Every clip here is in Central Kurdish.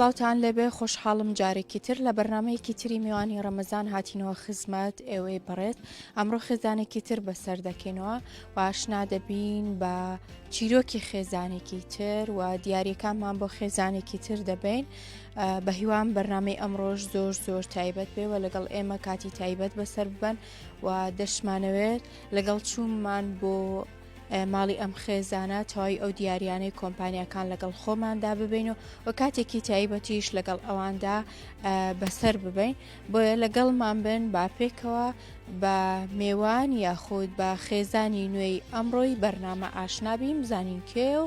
سڵاوتان لێبێ خۆشحاڵم جارێکی تر لە بەرنمەیەکی تری میوانی ڕەمەزان هاتینەوە خزمەت ئێوەی بڕێت ئەمڕۆ خێزانێکی تر بەسەر دەکەینەوە واشنا دەبین بە چیرۆکی خێزانێکی تر و دیارەکانمان بۆ خێزانێکی تر دەبین بەهیوام بەرنمەی ئەمڕۆژ زۆر زۆر تایبەت بێ و لەگەڵ ئێمە کاتی تایبەت بەسەر ببەن و دەشمانەوێت لەگەڵ چوونمان بۆ ماڵی ئەم خێزانە تەواوی ئەو دیاریانەی کۆمپانیەکان لەگەڵ خۆماندا ببین و و کاتێکی تایبەتیش لەگەڵ ئەواندا بەسەر ببین بۆیە لەگەڵ مامبن با پێکەوە بە مێوان یاخود بە خێزانی نوێی ئەمڕۆی بەرنامە ئاشنابیم زانین کێ و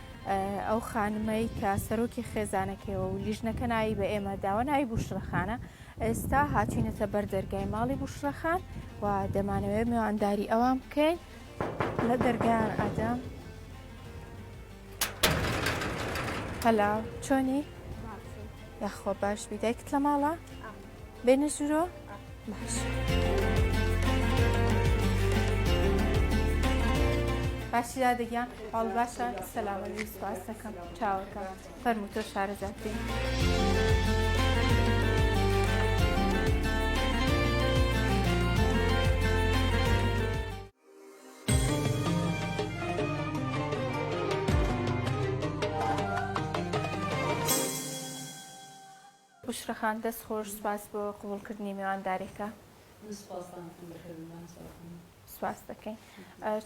ئەو خانمەی کە سەرۆکی خێزانەکەیەوە و لیژنەکە ناوی بە ئێمە داوە ناوی بوشڕەخانە ئێستا هاتوینەتە بەر دەرگای ماڵی بوشڕەخان و دەمانەوەێ میوانداری ئەوان بکەین لە دەرگیان ئادەم هەلا چۆنی یاخۆ باش بیدایکت لە ماڵە؟ بێنە ژورۆ باش باشی دادەگیان هەڵ باشە سەلامەوی سپاس دەکەم چاوەکە فەرمو تۆ شارەزاترین. بوشرا خان دەست خۆش سوپاس بۆ قبوڵ کردنی میوانداریەکە. من سوپاستانتم دەکردم مامساو خان. سوپاست دەکەین.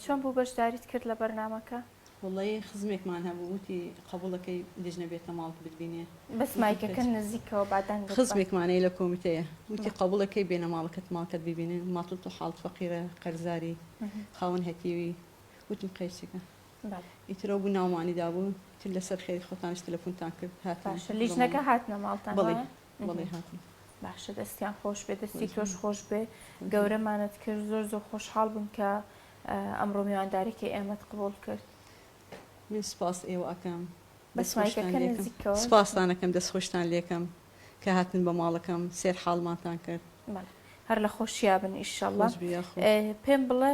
چۆن بوو بەشداریت کرد لە بەرنامەکە؟ وەڵڵەی خزمێکمان هەبوو وتی قەبوڵەکەی لیجنە بێتە ماڵت بتبینێ. بەس مایکەکە نزیکەوە با دەنگت بە. خزمێکمان هەیە لە کۆمیتەیە وتی قەبوڵە کەی بێنە ماڵەکەت ماڵکەت بیبینن ماتڵ تۆ حاڵت فەقیرە قەرزاری خاوەن هەتیوی وتم قەیسەکە. ئیتر ئەو بوو ناومانی دابوو تر لەسەر خێری خۆتانش تەلەفونتان کرد هاتن لیژنەکە هاتنە ماڵتان بڵێ بڵێ هاتن باشە دەستیان خۆش بێ دەستی تۆش خۆش بێ گەورەمانت کرد زۆر زۆر خۆشحاڵ بووم کە ئەمڕۆ میوانداریکە ئێمەت قبول کرد من سپاس ئێوە ئەکەم سپاسانەکەم دەست خۆشتان لێکم کە هاتن بە ماڵەکەم سێر حاڵمانتان کرد هەر لە خۆشییا بن ئیشەڵ پێم بڵێ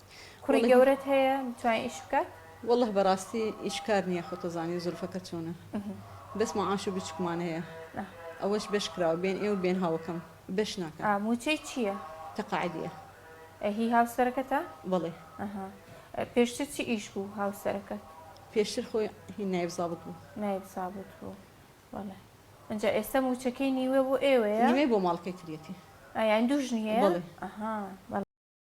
کوڕی گەورەت هەیە بتوانی ئیش بکات. وەڵلە بەڕاستی ئیش کار نیە خۆتەزانی زولفەکە چۆنە بەس معاش و بچوکمان هەیە ئەوەش بەش کراوە بێن ئێوە بێن هاوەکەم بەش ناکەن. ئا موچەی چیە؟ تەقاعدیە. ئە هی هاوسەرەکەتە؟ بەڵێ. ئەها پێشتر چ ئیش بوو هاوسەرەکەت؟ پێشتر خۆی هی نایب زابت بوو. نایب زابت بوو بەڵێ ئەجا ئێستا موچەکەی نیوە بۆ ئێوەیە؟ نیوەی بۆ ماڵەکەی تریەتی. ئا یانی دوو ژنی هەیە؟ بەڵێ. ئەها بەڵێ.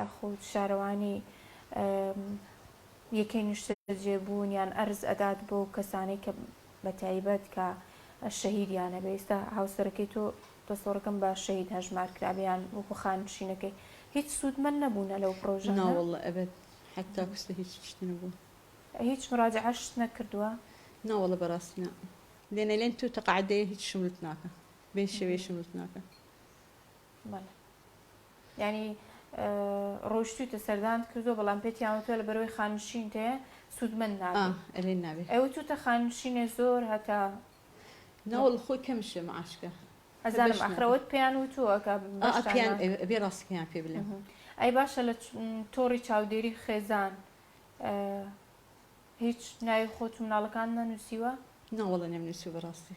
یاخود شارەوانی یەکەی نیشتەجێبوون یان ئەرز ئەدات بۆ کەسانەی کە بەتایبەت کە شەهیدیان هەبێ ئیستا هاوسەرەکەی تۆ دەسۆڕەکەم بە شەهید هەژمار کرابیان وەکو خانشینەکەی هیچ سوودمەند نەبوونە لەو پرۆژانە ناوەڵڵە ئەبەد حتا کوستە هیچ شتی نەبووە هیچ مراجعەشت نەکردووە ناوەڵە بەڕاستی نا لێنە لێن تو تەقعدەیە هیچ شملت ناکە بێ شێوێ شملت ناکە بەڵێ یانی ڕۆشتویتە سەردانت کردوە بەڵام پێتیان وتوە لە بەرەوەی خانشین تەیە سوودمەند نابێت ئەی وتوتە خانشینێ زۆر هەتا ناوەڵ خۆی کەمشێ معاشکە ئەزانم ئەخرەوەت پێیان وتووە کە بێ ڕاستەکەیان پێ بلێ ئەی باشە لە تۆڕی چاودێری خێزان هیچ ناوی خۆت و مناڵەکان نەنووسیوە ناوەڵە نێم نووسی بەڕاستی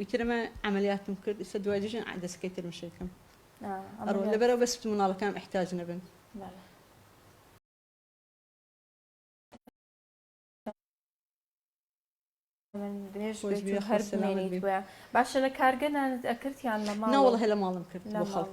ئیتر ئەمە عەمەلیاتم کرد ئیستا دوای دوو ژن عادەسە کەی تر مشەی کەم ئەڕۆ لەبەرە بەس بت مناڵەکانم ئیحتاج نەبن بەڵێ. خۆش بێ هەر سەلامەت بی. باشە لە کارگە نانت ئەکرد یان لە ماڵ؟ نەوەڵ هەلە ماڵم کرد بۆ خەڵک.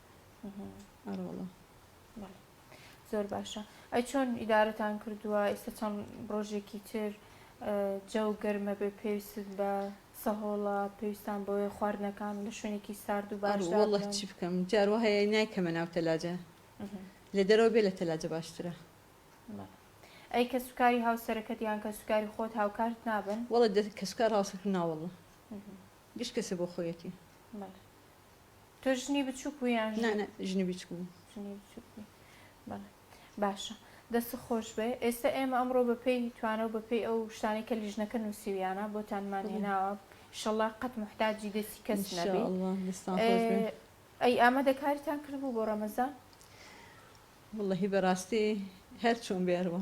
ئەرۆڵە زۆر باشە ئەی چۆن ئیدارەتان کردووە ئێستا چەند ڕۆژێکی تر جەو گەرمە بێ پێویست بە سەهۆڵە پێویستان بۆیە خواردنەکان لە شوێنێکی سارد و باشڵە چی بکەم جارو هەیە نایکەمە ناو تەلاجە لە دەرەوە بێ لە تەلاجە باشترە ئەی کە سوکاری هاوسەرەکەت یان کە سوکاری خۆت هاوکارت نابن وڵە کەسکار هاوسەکە ناوەڵە گشت کەسە بۆ خۆیەتی تۆ ژنی بچووک و یان ژنی بچوو باشە دەست خۆش بێ ئێستا ئێمە ئەمڕۆ بەپی توانە و بەپی ئەو شتانی کە لیژنەکە نووسیویانە بۆتانمان هێناوە شەڵا قەت محتاجی دەستی کەس نەبێ ئەی ئامە دەکاریتان کردبوو بۆ ڕەمەزان واللهی بەڕاستی هەر چۆن بێرەوە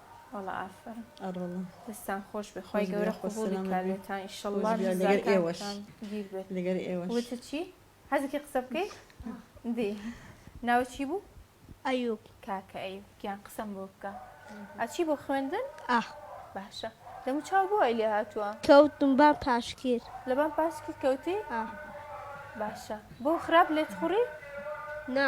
وەڵا ئافەرم ئەڕەڵا دەستان خۆش بێ خی گەورە قوبولی کارێتان ئیشەڵڵا لەگەر ئێوەش گیر بێت لەگەر ئێوە وتە چی حەزێکی قسە بکەی دی ناوە چی بوو ئەیوب کاکە ئەیوب گیان قسەم بۆ بکە ئەچی بۆ خوێندن ئاخ باشە دەمو چاو بۆ ئەی لێ هاتووە کەوتم بان پاشکیر لەبان پاشکی کەوتی باشە بۆ خراپ لێت خوڕی نا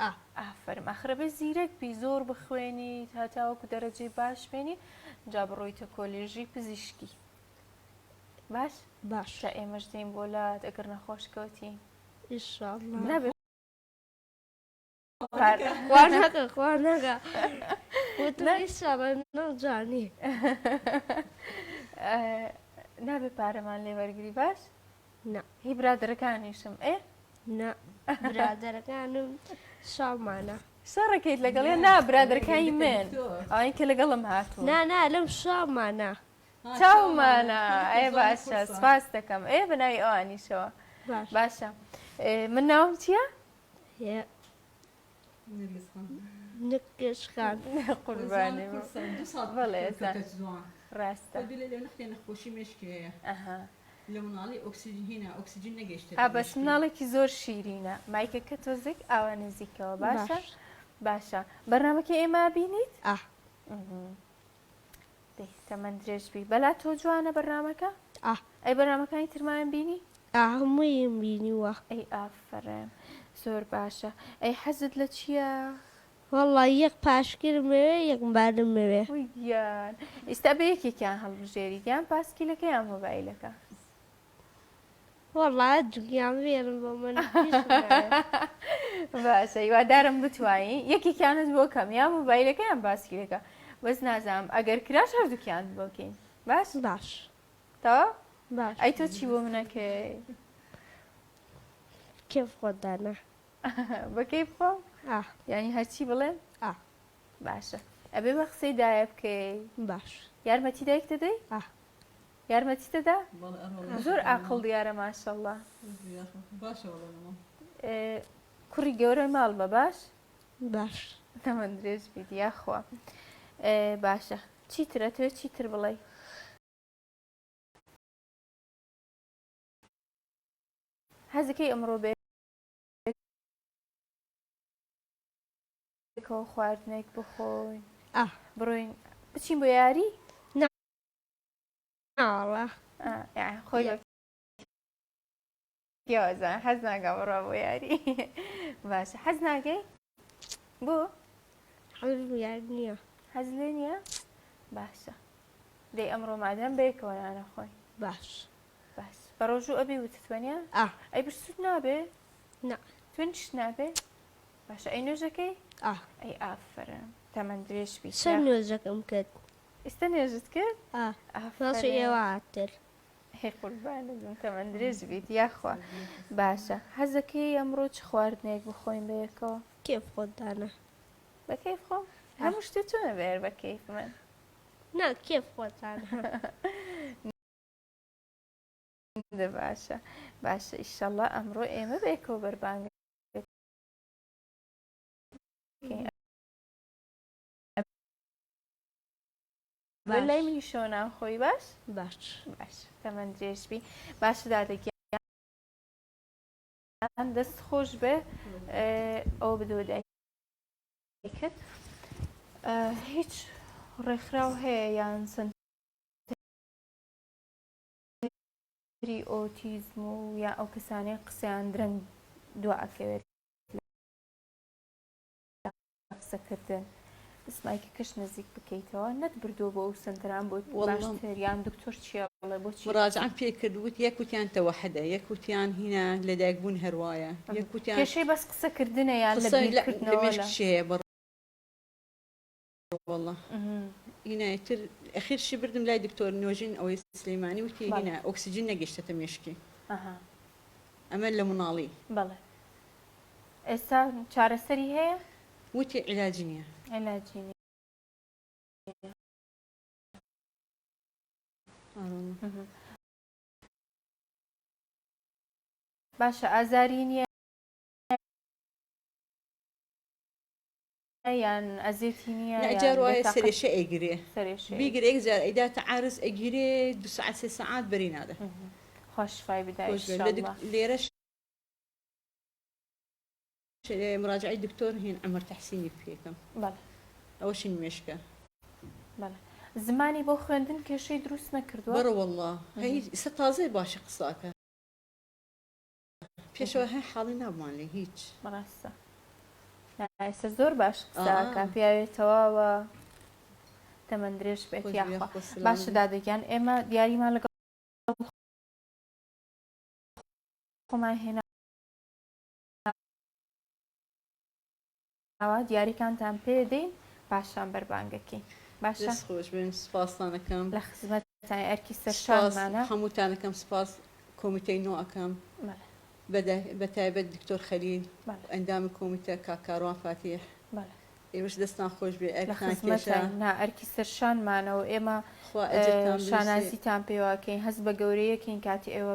ئا ئافەرم ئەخر ئەبێ زیرەک بی زۆر بخوێنیت هەتاوەکو دەرەجەی باش بێنی جا بڕۆیتە کۆلێژی پزیشکی باش باش جا ئێمەش دێین بۆ لات ئەگەر نەخۆش کەوتی ئیشاڵڵا نابێ خوانەکە خوانەکە نەجانی نابێ پارەمان لێ وەرگری باش نا. هی برادەرەکانیشم ئێ؟ نا برادەرەکانم شامانە. شەڕەکەیت لەگەڵێ نا برادەرەکانی من ئەوان کە لەگەڵم هاتوو نا نا لەم شامانە چاومانە ئەێ باشە سپاس دەکەم ئێ بە ناوی ئەوانیشەوە باشە من ناوم چییە؟ بەس مناڵێکی زۆر شیرینە مایکەکە تۆزێک ئاوا نزیکەوە باشە باشە بەرنمەکە ئێمە بینیت دەی تەمەن درێژ بی بەلا تۆ جوانە بەرنامەکە ئا ئەی بەرنامەکانی ترمایان بینی ئا هەموویم بینیوە ئەی ئافرەم زۆر باشە ئەی حەزت لە چییە وەڵا یەک پاشگرم مەوێ یەک مبارم مەوێ وی گیان ئیستا بە یەکێکیان هەڵبژێری یان پاسکیلەکە یان مۆبایلەکە وەڵا جگیان بێرن بۆ من باشە هیوادارم بتوانی یەکێکیانت بۆ کەم یا مۆبایلەکەیان باسکیلەکە بەس نازانم ئەگەر کراش هەردووکیان بۆکەین باش باش تا باش ئەی تۆ چی بۆ منەکەی کێف خۆدانە بەکەی بخۆم ینی هەرچی بڵێ باشە ئەبێ بە قسەی دایە بکەی باش یارمەتی دایک دەدەی یارمەتیت دەدا؟ بەڵێ ئەرۆڵێ باشە زۆر بەڵێ ئاقڵ مامە دیارە ماشەڵڵا. بژی یاخوا خۆش باشە بەڵێ لە ماڵ. کوڕی گەورەی ماڵمە باش. باش. تەمەن درێژ بیت یاخوا. باشە چیتر ئەتوێ چیتر بڵێی؟ حەزەکەی ئەمڕۆ بە یەکەوە خواردنێک بخۆین؟ ئا. بڕۆین بچین بۆ یاری؟ نا. ناوەڵا خۆی پیاوەزە حەز ناگە بڕە بۆ یاری باشە حەز ناگەی بۆ حەز یار نییە حەز لێ نییە باشە دەی ئەمڕۆ مادەم بەیەکەوە نانە خۆی باش باش بە ڕۆژوو ئەبی وتتوانە ئەی برسوت نابێ نا تونش نابێ باشە ئەی نوێژەکەی ئەی ئافرە تەمەندرێش بی شەر نوێژەکەم کرد ئیستە نوێژت کرد ئافەرین باشە ئێوە تر هەی قوربانت بم تەمەن درێژ بیت یاخوا باشە حەزەکەی ئەمڕۆ چ خواردنێک بخۆین بەیەکەوە کێف خۆت دانە بەکەیف خۆ هەموو شتێ چۆنە بێر بە کەیف من نا کێف خۆت دانە دە باشە باشە ئیشەڵا ئەمڕۆ ئێمە بەیەکەوە بەربانگە باش لای منی شەوە ناخۆی باش باش باش تەمەن درێژ بی باش دادە گیان دەست خۆش بێ ئەو بدۆ دایکت هیچ ڕێکخراو هەیە یان سند ئۆتیزم و یا ئەو کەسانەی قسەیان درەنگ دو ئەکەوێت قسەکردن سمایکی کەش نزیک بکەیتەوە نەت بردو بۆ ئەو سنتەران بۆ باشتریان دکتۆر چیە بڵێ بۆ ڕاجعان پێ کرد وت یەک وتیان تەوەحدە یەک وتیان هینا لە دایک بوون هەروایە یەک وتیان کێشەی بەس قسەکردنە یان لە بیرکردنەوە هەیە وەڵا هینای تر ئەخیر شی بردم لای دکتۆر نۆژین ئەوەی سلەیمانی وتی بەڵێ. هینا ئۆکسجین نەگەشتەتە مێشکی ئەها ئەمە لە مناڵی بەڵێ ئێستا چارەسەری هەیە وتی عیلاجی نیە علاجی نیە ئاوەڵا ئەها باشە ئازاری نیە یان ئەزێتی نیە نا جار یان وایە بێتاقەت سەرێشە ئەیگرێ سەرێشە بیگرێ یەک ئەیگرێ. جار ئەیداتە عارس ئەگیرێ دو سەعات سێ سەعات بەری نادە. خوا شیفای بداێ خۆش بێ لە دک انشاللە. لێرەش مراجعەی دکتۆر هین عمر تحسینی پێکەم بەڵێ ئەوەشین مێشکە. بەڵێ زمانی بۆ خوێندن کێشەی دروست نەکردووە؟ بەڕە وەڵا هەی ئیستا تازە باشی قسە ئەکا. پێشەوە هەر حاڵی نابمان لێ هیچ بەڕاستە ئێستا زۆر باش قسەکە پیاوێ تەواوە تەمەند درێژ بێت یاخوا باشە دادەگیان ئێمە دیاریمان لەگەڵ خۆمان هێنا ئەوا دیاریکانتان پێ دەین پاشان بەربانگەکەین باشە. دەست خۆش بێ سوپاستان ئەکەم. لە خزمەتتانین ئەرکی سەرشانمانە. سوپاس هەمووتان ئەکەم سوپاس کۆمیتەی نۆ ئەکەم بە تایبەت دکتۆر خەلیل و ئەندامی کۆمیتە کاک کاروان فاتیح ئێوەش دەستان خۆش بێ ئەرکتان کێشە. لە خزمەتتاین نا ئەرکی سەرشانمانە و ئێمە شانازیتان پێوە ئەکەین هەست بە گەورەیەکین کاتی ئێوە.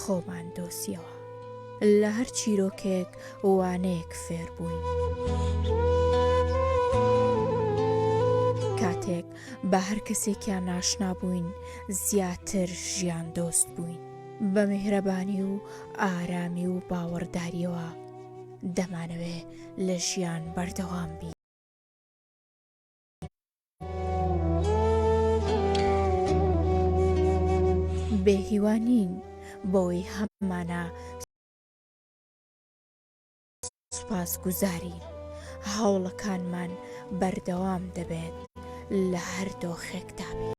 خۆمان دۆسیەوە لە هەر چیرۆکێک وانەیەک فێر بووین کاتێک بە هەر کەسێکیان ناشنا بووین زیاتر ژیان دۆست بووین بە میهرەبانی و ئارامی و باوەڕداریەوە دەمانەوێ لە ژیان بەردەوام بین بێ هیوا نین بەوەی هەمانە سوپاس گوزاری هەوڵەکانمان بەردەوام دەبێت لە هەر دۆخێکدا بێت.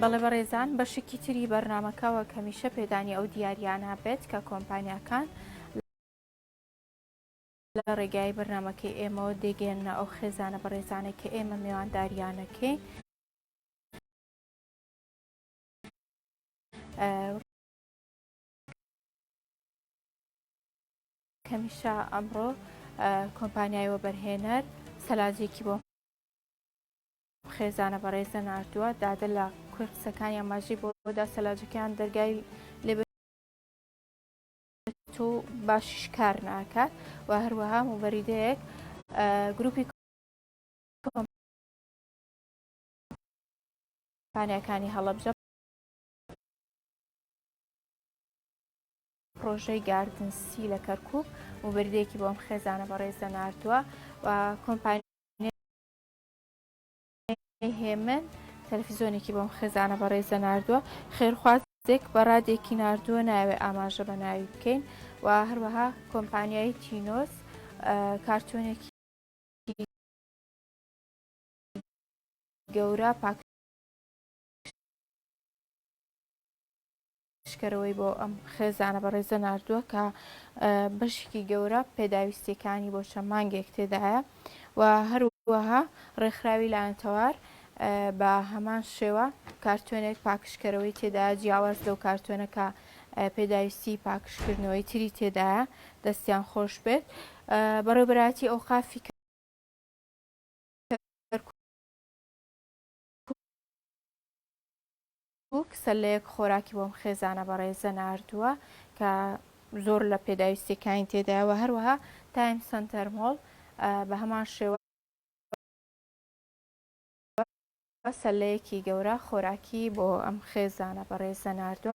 بەڵێ بەڕێزان بەشێکی تری بەرنمەکەەوە کەمیشە پێدانی ئەو دیاریانە بێت کە کۆمپانیاکان لە ڕێگای بەرنمەکەی ئێمەوە دەگەێنە ئەو خێزانە بەڕێزانێک کە ئێمە میوانداریانەکەی کەمیشا ئەمڕۆ کۆمپانیای وەبەرهێنەر سەلاجێکی بۆ خێزانە بەڕێزە نردووە دادە لە کوێ قسەکانیان ماژی بۆدا سەلاجەکەیان دەرگای لێ تۆ باشیش کار ناکات و هەروەها موبەریدەیەک گروپی کۆمپانیاکانی هەڵەبجە پڕۆژەی گاردن سی لە کەرکک و بردێکی بۆم خێزانە بەڕێزە نردووە و کۆمپانی هێمن تەلفزیۆنێکی بۆم خێزانە بەڕێزە نردووە خێرخواز دێک بەڕادێکی نردووە ناوێ ئاماژە بە ناوی بکەین و هەروەها کۆمپانیای تینۆس کارتۆنێکی گەورە پاکژکەرەوەی بۆ ئەم خێزانە بەڕێزە ناردووە کە بەشێکی گەورە پێداویستیەکانی بۆ چەند مانگێک تێدایە و هەروەها ڕێکخراوی لایەنتەوار بە هەمان شێوە کارتۆنێک پاکشکەرەوەی تێدا جیاواز لەو کارتۆنەکە پێداویستی پاکشکردنەوەی تری تێدایە دەستیان خۆش بێت بەڕێبراتی ئەو قافی کەرکوک سەلەیەک خۆراکی بۆم خێزانە بەڕێزە ناردووە کە زۆر لە پێداویستیەکانی تێدایە و هەروەها تایم سنتەر مۆڵ بە هەمان شێوە سەلەیەکی گەورە خۆراکی بۆ ئەم خێزانە بەڕێزە ناردووە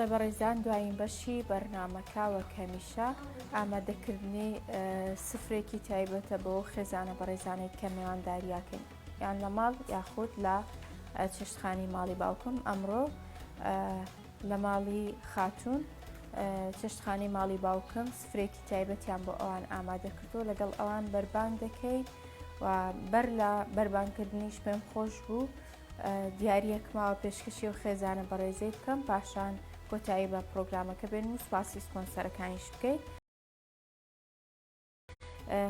بەڵێ بەڕێزان دوایین بەشی بەرنمەکە وەک هەمیشە ئامادەکردنی سفرێکی تایبەتە بۆ خێزانە بەڕێزانێک کە مێوانداریاکەین یان لە ماڵ یاخود لە چێشتخانی ماڵی باوکم ئەمڕۆ لە ماڵی خاتون چێشتخانی ماڵی باوکم سفرێکی تایبەتیان بۆ ئەوان ئامادە کردو لەگەڵ ئەوان بەربانگ دەکەیت و بەر لە بەربانکردنیش پێم خۆش بوو دیارەک ماوە پێشکەشی و خێزانە بەڕێزەی بکەم پاشان کۆتایی بە پرۆگرامەکە بێن و سوپاسی سپۆنسەرەکانیش بکەیت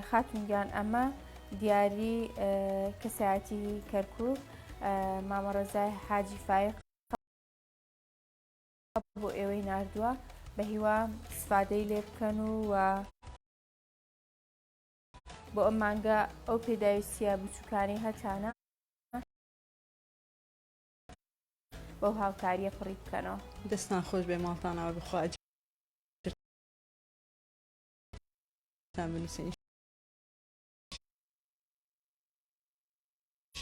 خاتونگیان ئەمە دیاری کەسایەتی کەرکک مامەڕێزای حاجی فایق بۆ ئێوەی ناردووە بە هیوا سفادەی لێ بکەن و و بۆ ئەم مانگە ئەو پێداویستە بچووکانی هەتانە بەو هاوکاریە پڕی بکەنەوە دەستان خۆش بێ ماڵتانەوە بخواج بنووسین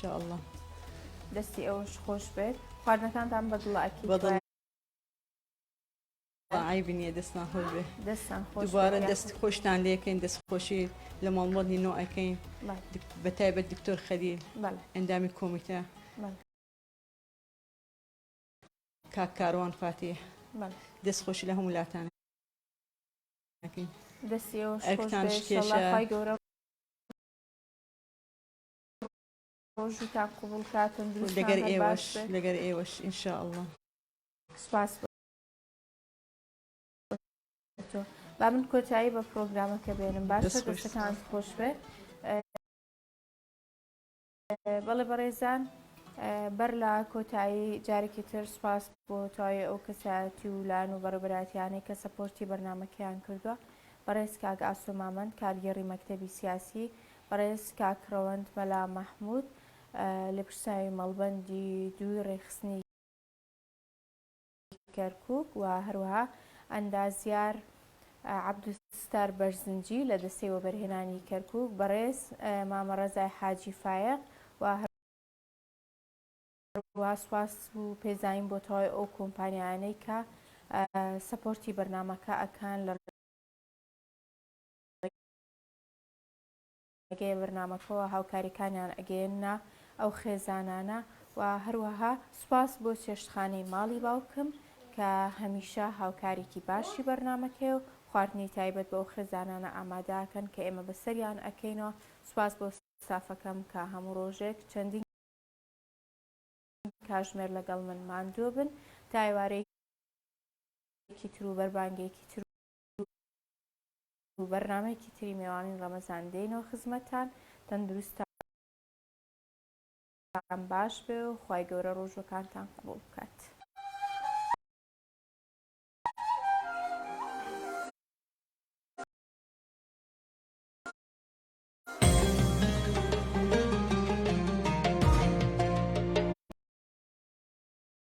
شاءاللە دەستی ئەوش خۆش بێت خواردنەکانتان بەدڵاکی بەدڵ عیبی نییە دەستان خۆش بێ دەستان دوبارە دەست خۆشتان لەکەین دەست خۆشی لە ماڵمەڵی نۆ ئەەکەین بە تایبەت دکتۆر خەلیل ئەندامی کۆمیتە کاک کاروان فاتیح دەست خۆشی لە هەموو لاتان ئەکەین دەستی ئێوەش خۆش ئەرکتان بێ شکێشە. ئینشەڵا خوای گەورە ڕۆژووتان قبوڵ کا لەگەر تەندروستان هەر ئێوەش باش بێ لەگەر ئێوەش ئینشاء اللە سوپاس بۆ تۆ با من کۆتایی بە پرۆگرامەکە بێنم باشە دەست خۆش. دەستەکانت خۆش بێ بەڵێ بەڕێزان بەر لە کۆتایی جارێکی تر سوپاس بۆ تواوی ئەو کەسایەتی و لایەن و بەڕێبەراتیانەی کە سەپۆرتی بەرنمەکەیان کردووە بەڕێز کاک ئاسۆ مامەند کارگێڕی مەکتەبی سیاسی بەڕێز کاک ڕەوەند مەلا مەحمود لێپرسناوی مەڵبەندی دووی ڕێکخستنی کەرکوک و هەروەها ئەندازیار عەبدولستار بەرزنجی لە دەستەی وەبەرهێنانی کەرکوک، بەڕێز مامە ڕەزای حاجی فایەق و هەروەها سوپاس و پێزانین بۆ تەواوی ئەو کۆمپانیایانەی کە سەپۆرتی بەرنامەکە ئەکەن لە گەیە بەرنامەکەوە هاوکاریکانیان ئەگەیەننە ئەو خێزانانە و هەروەها سوپاس بۆ چێشتخانەی ماڵی باوکم کە هەمیشە هاوکاریکی باشی بەرنامەکەیە و خواردنی تایبەت بۆ ئەو خێزانانە ئاماداکەن کە ئێمە بەسەریان ئەکەینەوە سوپاس بۆ ستافەکەم کە هەموو ڕۆژێک چەندین کاژمێر لەگەڵ من ماندووبن تا ئێوارەی کی ترو بەربانگێکی تر. و بەرنامەیەکی تری مێوانی ڕەمەزان دێنەوە خزمەتان تەندروستە باش بێ و خی گەورە ڕۆژەکانتان قوڵ بکات.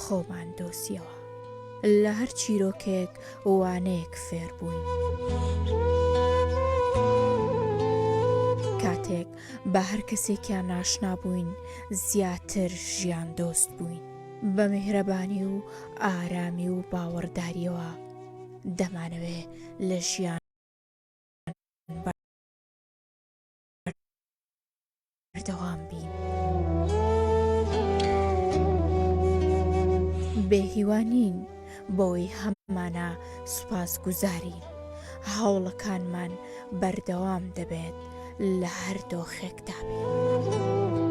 خۆمان دۆزیەوە. لە هەر چیرۆکێک وانەیەک فێر بووین. کاتێک بە هەر کەسێکیان ناشنا بووین زیاتر ژیان دۆست بووین. بە میهرەبانی و ئارامی و باوەڕداریەوە دەمانەوێ لە ژیان بەردەوام بین. بێهیوانین بۆی هەمانە سوپاس گوزارین هەوڵەکانمان بەردەوام دەبێت لە هەر دۆخێکدا بێت.